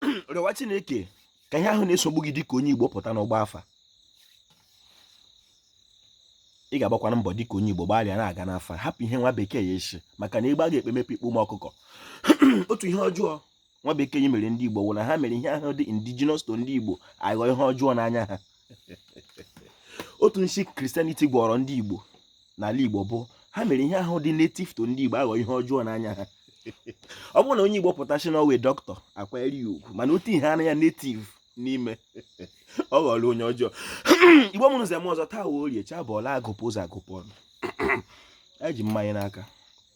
rịọwa chineke ka ihe ahụ na-esogbu gị dịka onye igbo pụta n'ịgba afa ị ga-agbakwanụ mbọ dịka onye igbo gbalịa na-aga n'afa hapụ ihe nwa bekee ya esi maka na egbe aga-ekpe mepe ikpe ụmụ ọkụkọ otu ihe ọjọọ nwa bekee mere ndị igbo wụ na ha mere ihe ahụ dị indigenous to ndị igbo aghọ ihe ọjọọ n'anya ha otu nshi christianity gwọrọ ndị igbo n'ala igbo bụ ha mere ihe ahụ dị native to ndị igbo aghọ ihe ọjọọ n'anya ha ọ bụrụ na onye igbo pụta sị na ọ wụ dọkịta akwanyere ya ugwu mana otu ihe anya native n'ime ọ ghọrọ onye ọjọọ igbo mụrụ nze mụọ ọzọ taa wụ orie chi abọọla agụpụ ụzọ agụpụ ọnụ eji mmanya n'aka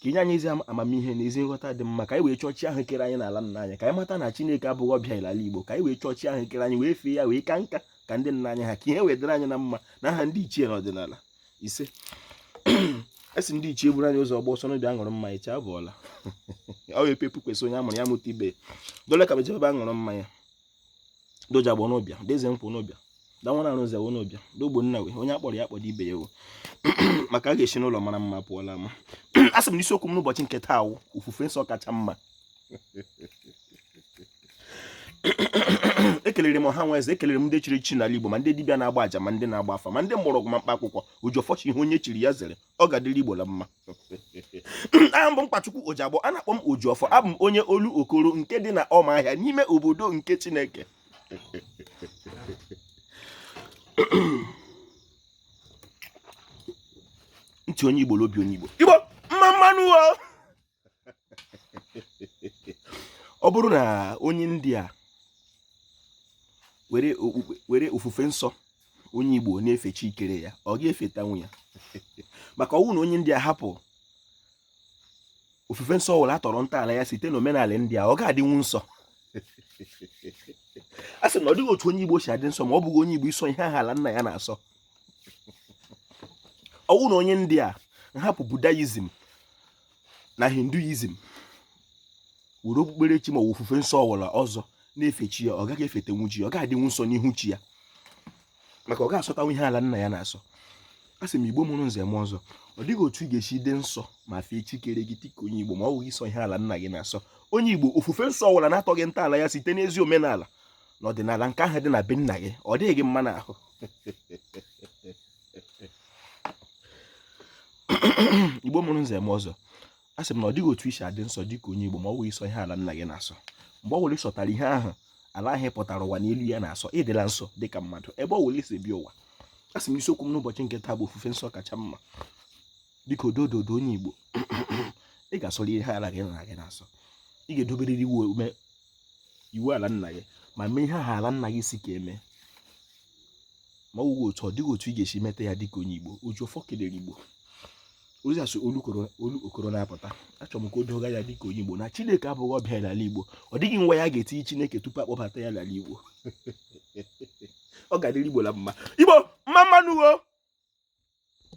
ka i nye anyị ezi amamihe na ezi nghọta dị mma ka anyị wee chọọ chi ahụ kere anyị n'ala nna anyị ka anyị mata na Chineke abụghị ọbịa ala Igbo ka anyị wee chọọ chi ahụ kere anyị wee fee ya wee ka nka ka ndị nna anyị ha ka ihe wee dịrị anyị na mma n'aha ndị ichie na ọdịnala isee a sị ndị ichie buru anyị ụzọ ọgbọ ọsọ n'obi aṅụrụ mmanya chi abọọla ọ wee pepu kwesị onye amụrụ ya mụta ibe dole ka mejebe aṅụrụ mmanya de ojiagbọ n'ụbịa deze nkwụ n'ụbịa danwa na arụzi awụ n'ụbịa dogbo nna wee onye akpọrọ ya akpọrọ ibe ya ewu maka a ga-esi n'ụlọ mara mma pụọ la ama a sị m n'isiokwu m n'ụbọchị nke taa wụ ofufe nsọ kacha mma ekelere m ọha na eze ekelere m ndị chiri echi n'ala Igbo ma ndị dibịa na-agba aja ma ndị na-agba afa ma ndị mgbọrọgwụ ma mkpa akwụkwọ ojiọfọ sị ihe onye chiri ya zere ọ ga-adịrị Igbo la mma aha m bụ mkpachukwu ojiagbọ a na-akpọ m ojiọfọ abụ m onye olokoro nke dị na ụmụahịa n'ime obodo nke chineke ntị onye igbo lobi onye igbo igbo mma mma nụ o ọ bụrụ na onye india were ofufe nsọ onye igbo na-efe chi kere ya ọ ga-efetanwu ya maka ọ wụ na onye india hapụ ofufe nsọ ọwụla atọrọ ntọala ya site na omenala india ọ ga-adịnwu nsọ a sị na ọ dịghị otu onye igbo si adị nsọ ma ọ bụghị onye igbo ịsọ ihe ahụ ala nna ya na-asọ ọ wụ na onye india hapụ buddhism na hinduism were okpukperechi ma ọ bụ ofufe nsọ ọwụla ọzọ na-efe chi ya ọ gaghị efetanwu chi ya ọ ga-adịnwu nsọ n'ihu chi ya maka ọ ga-asọtanwu ihe ala nna ya na-asọ a sị m igbo mụrụ nze mụọ ọzọ ọ dịghị otu ị ga-esi dị nsọ ma fee chi kere gị dịka onye igbo ma ọ bụghị ịsọ ihe ala nna gị na-asọ onye igbo ofufe nsọ ọwụla na-atọghị ntọala ya site n'ezi omenala na ọdịnala nke ahụ dị na be nna gị ọ dịghị gị mma n'ahụ igbo mụrụ nze mụọ ọzọ a sị m na ọ dịghị otu i si adị nsọ dị ka onye igbo ma ọ bụghị ịsọ ihe ala nna gị na-asọ mgbe ọ bụla ị sọtara ihe ahụ ala ahụ pụtara ụwa n'elu ya na-asọ ị dịla nsọ dị ka mmadụ ebe ọ bụla i si bịa ụwa a sị m isiokwu m n'ụbọchị nke taa bụ ofufe nsọ kacha mma biko dododo onye igbo ị ga-asọrọ ihe ala gị nna gị na-asọ ị ga-edoberịrị iwu ala nna gị ma mee ihe ahụ ala nna gị sị ka e mee ma ọ wụghị otu ọ dịghị otu ị ga-esi meta ya dịka onye Igbo oji ọfọ kelere Igbo ozi a si olu okoro na-apụta achọrọ m ka o doo gị anya dịka onye Igbo na Chineke abụghị ọbịa n'ala Igbo ọ dịghị nwa ya ga-etinye Chineke tupu a kpọbata ya n'ala Igbo ọ ga-adịrị Igbo la mma Igbo mma mma nụ